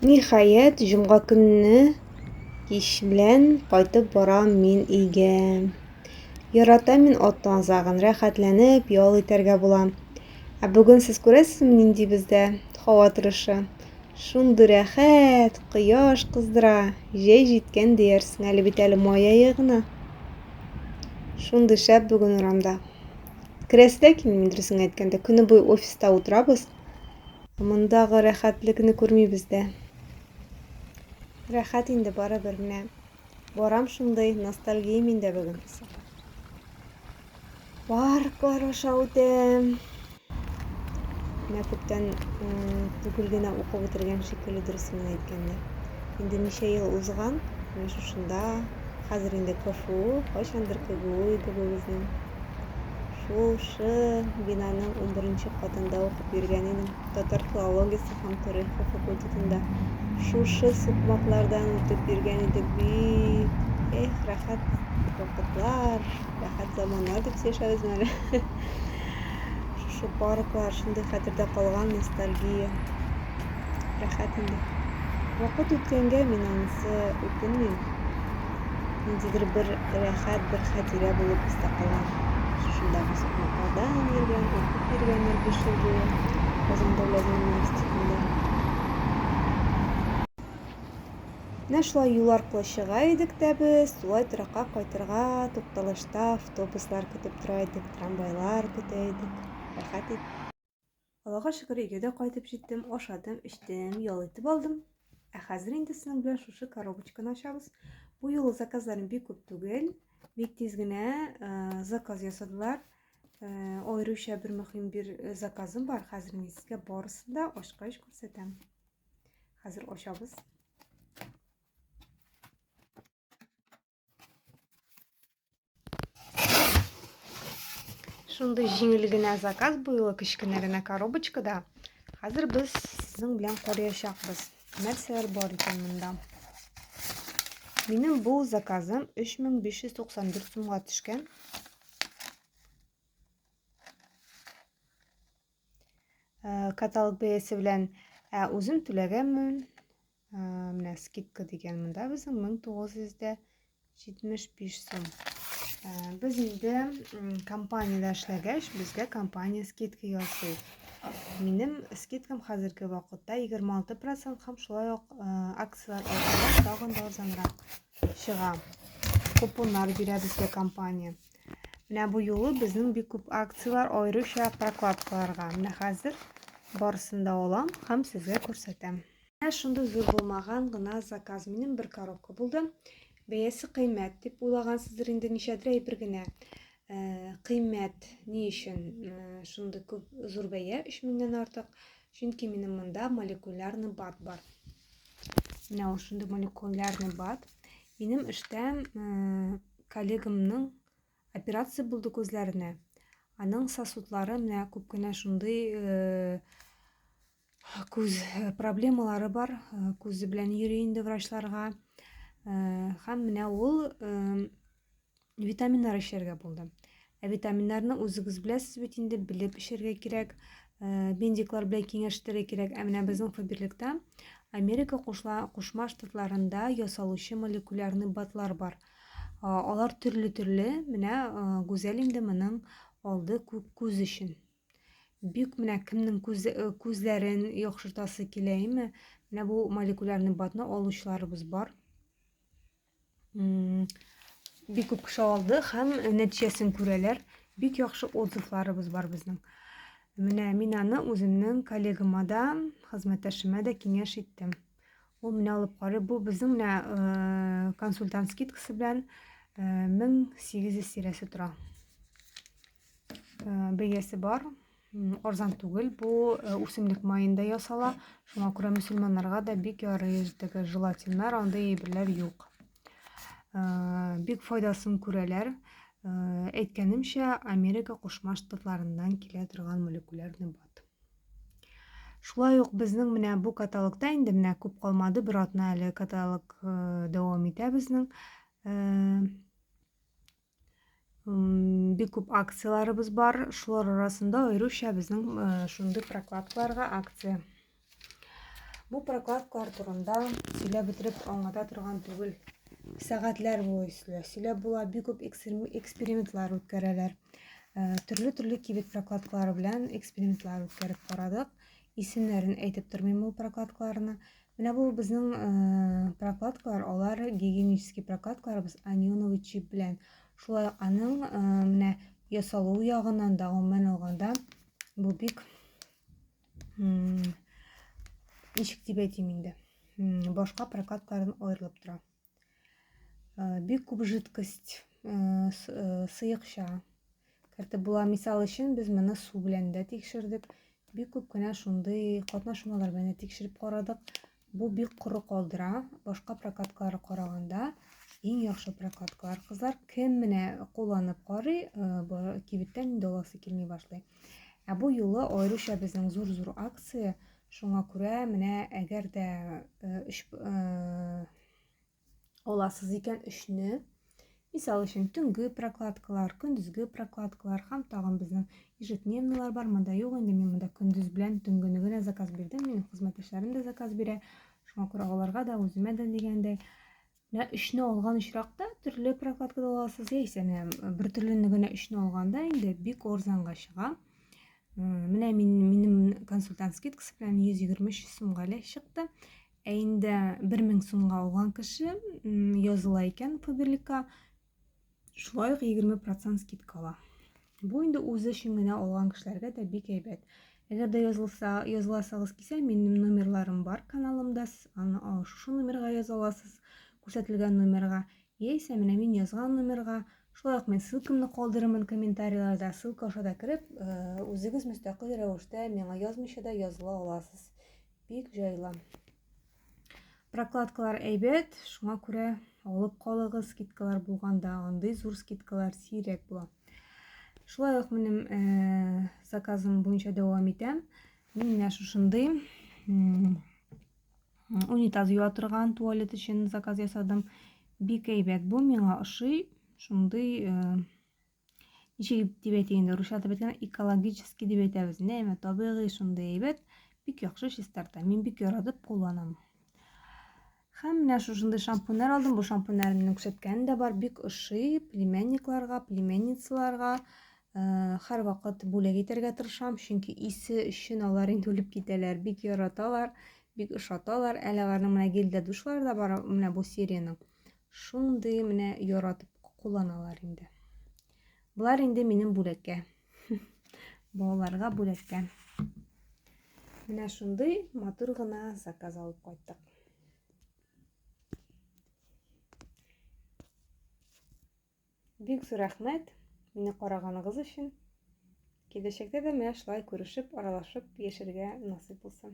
Ниһаять, җомга көнне кич белән кайтып барам мин өйгә. Ярата мин аттан азагын, рәхәтләнеп ял итәргә була. Ә бүген сез күрәсезме нинди бездә һава торышы? Шундый рәхәт, кояш кыздыра, җәй җиткән диярсең әле бит әле май ае гына. Шундый шәп бүген урамда. Керәсе дә килми, дөресен әйткәндә, көне буе офиста утырабыз. Мондагы рәхәтлекне күрмибез дә. Рәхәт инде барыбер менә. Барам шундый ностальгия миндә бүген. Парклар аша үтәм. Менә күптән түгел генә укып бетергән шикелле дөресен генә әйткәндә. Инде ничә ел узган, менә шушында Хәзер инде КФУ, кайчандыр КГУ иде бу безнең. Шушы бинаның 11-нче катында укып йөргән идем. Татар филологиясе һәм тарихы факультетында. Шушы сукмаклардан үтеп йөргән идек бит. Эх, рәхәт вакытлар, рәхәт заманнар дип сөйләшәбезме әле? Шушы парклар шундый хәтердә калган ностальгия. Рәхәт инде. Вакыт үткәнгә мин анысы үкенмим. Ниндидер бер рәхәт, бер хәтирә булып истә кала. Шушындагы сукмакларда йөргән, укып йөргән ел биш ел буе Казан дәүләт университетында. Менә шулай юл аркылы чыга идек тә без, тулай торакка кайтырга тукталышта автобуслар көтеп тора идек, трамвайлар көтә идек. Рәхәт иде. Аллага шөкер, өйгә дә кайтып җиттем, ашадым, эчтем, ял итеп алдым. Ә хәзер инде сезнең белән шушы коробочканы ачабыз. Бу юлы заказларым бик күп түгел. Бик тиз генә э, заказ ясадылар. Э, аеруча бер мөһим бер э, заказым бар. Хәзер мин сезгә барысын да ачкач күрсәтәм. Хәзер ачабыз. Шундый җиңел генә заказ буйлы кечкенә генә коробочкада. Хәзер без сезнең белән карыячакбыз. Нәрсәләр бар икән монда? Минем бу заказым 3594 сумга төшкән. Э, каталог бәясе белән э, үзем түләгәнмен. Менә скидка дигән монда безнең 1975 сум. Без инде компаниядә эшләгәч, безгә компания скидка ясый. Минем скидкам хәзерге вакытта 26% һәм шулай ук акцияләр аркылы тагын да арзанрак чыга. Купоннар бирә безгә компания. Менә бу юлы безнең бик күп акцияләр аеруча прокладкаларга. Менә хәзер барысын да алам һәм сезгә күрсәтәм. Менә шундый зур булмаган гына заказ минем бер коробка булды. Бәясе кыйммәт дип уйлагансыздыр инде, ничәдер әйбер генә. Э, кыйммәт ни өчен э, шундый күп зур бәя 3 меңнән артык? Чөнки минем монда молекулярный бат бар. Менә ул шундый молекулярный бат. Минем эштә э, коллегамның операция булды күзләренә. Аның сосудлары менә күп кенә шундый күз э, проблемалары бар э, күзе белән йөри инде врачларга һәм э, менә ул витаминнар эчәргә булды ә витаминнарны үзегез беләсез бит инде белеп эчәргә кирәк бендиклар белән киңәштерергә кирәк ә менә безнең фаберлектә америка кушма штатларында ясалучы молекулярный батлар бар алар төрле төрле менә гүзәл инде моның алды күк күз өчен Бик менә кемнең күз, э, күзләрен яхшыртасы килә, әйме? Менә бу молекулярный батны алучыларыбыз бар. Бик күп кеше алды һәм нәтиҗәсен күрәләр. Бик яхшы отзывларыбыз бар безнең. Менә мин аны үземнең коллегама да, хезмәттәшемә дә киңәш иттем. Ул менә алып карый. Бу безнең менә э, консультант скидкасы белән 1800 э, тирәсе тора. бәясе бар арзан түгел бу э, үсемлек маенда ясала шуңа күрә мөселманнарга да бик ярый өздәге желатиннар андый әйберләр юк э, бик файдасын күрәләр э, әйткәнемчә америка кушма штатларыннан килә торган молекулярный бат шулай ук безнең менә бу каталогта инде менә күп калмады бер атна әле каталог дәвам итә безнең бик күп акцияләребез бар шулар арасында аеруча безнең шундый прокладкаларга акция бу прокладкалар турында сөйләп бетереп аңлата торган түгел сәгатьләр буе сөйләп була бик күп экспериментлар үткәрәләр төрле төрле кибет прокладкалары белән экспериментлар үткәреп карадык исемнәрен әйтеп тормыйм ул прокладкаларны Менә бу безнең э, прокладкалар, алар гигиенический прокладкаларыбыз анионовый чип белән. Шулай ук аның э, менә ясалу ягыннан да гомумән алганда бу бик ничек дип әйтим инде. Башка прокладкалардан аерылып тора. Э, бик күп жидкость э, э, сыекча кертеп була мисал өчен без моны су белән дә тикшердек бик күп кенә шундый катнашмалар белән тикшереп карадык бу бик коры калдыра башка прокаткалар караганда иң яхшы прокаткалар кызлар кем менә кулланып карый кибеттән инде аласы килми башлый ә бу юлы аеруча безнең зур зур акция Шуңа күрә менә әгәр дә өч аласыз икән өчне, мисал өчен төнге прокладкалар, көндезге прокладкалар һәм тагын безнең ежедневныйлар бар, монда юк инде, мин монда көндез белән төнгене генә заказ бирдем, минем хезмәттәшләрем дә заказ бирә, шуңа күрә аларга да, үземә дә дигәндәй, Менә өчне алган очракта төрле прокладкада аласыз яисә менә бер төрлене генә өчне алганда инде бик орзанга чыга. Менә мин минем консультант скидкасы белән 123 сумга ле чыкты. Ә инде 1000 сумга алган кеше языла икән Фаберликка Шулай ук 20% скидка ала. Бу инде үзе өчен генә алган кешеләргә дә бик әйбәт. Әгәр дә язылса, языласагыз кисә, минем номерларым бар каналымда, аны шушы номерга яза аласыз, күрсәтелгән номерга. Яисә менә мин язган номерга, шулай ук мен ссылкамны калдырырмын комментарийларда, ссылка аша да кереп, э, үзегез мөстәкыйль рәвештә миңа язмыйча да языла аласыз. Бик җайлы. Прокладкалар әйбәт, шуңа күрә алып калыгыз, скидкалар булганда андый зур скидкалар сирәк була. Шулай ук минем э, заказым буенча дәвам итәм. Мин менә шушындый унитаз юа торган туалет өчен заказ ясадым. Бик әйбәт бу, миңа ошый. Шундый э, Ишек дип әйтик инде, русча атап әйткәндә, экологический дип әйтәбез. Нәмә табигый шундый әйбәт, бик яхшы чистарта. Мин бик яратып кулланам. Һәм менә шушындый шампуньнар алдым. Бу шампуньнар минем күрсәткәне дә бар, бик ошый племянникларга, племянницаларга. Һәр вакыт бүләк итәргә тырышам, чөнки исе өчен алар инде үлеп китәләр, бик яраталар, бик ошаталар. Әле аларның менә гелдә душлары да бар, менә бу сериянең. Шундый менә яратып кулланалар инде. Болар инде минем бүләккә. Балаларга бүләккә. Менә шундый матур гына заказ алып кайттык. Бик зур рәхмәт мине караганыгыз өчен. Киләчәктә дә менә шулай күрешеп, аралашып яшәргә насыйп булсын.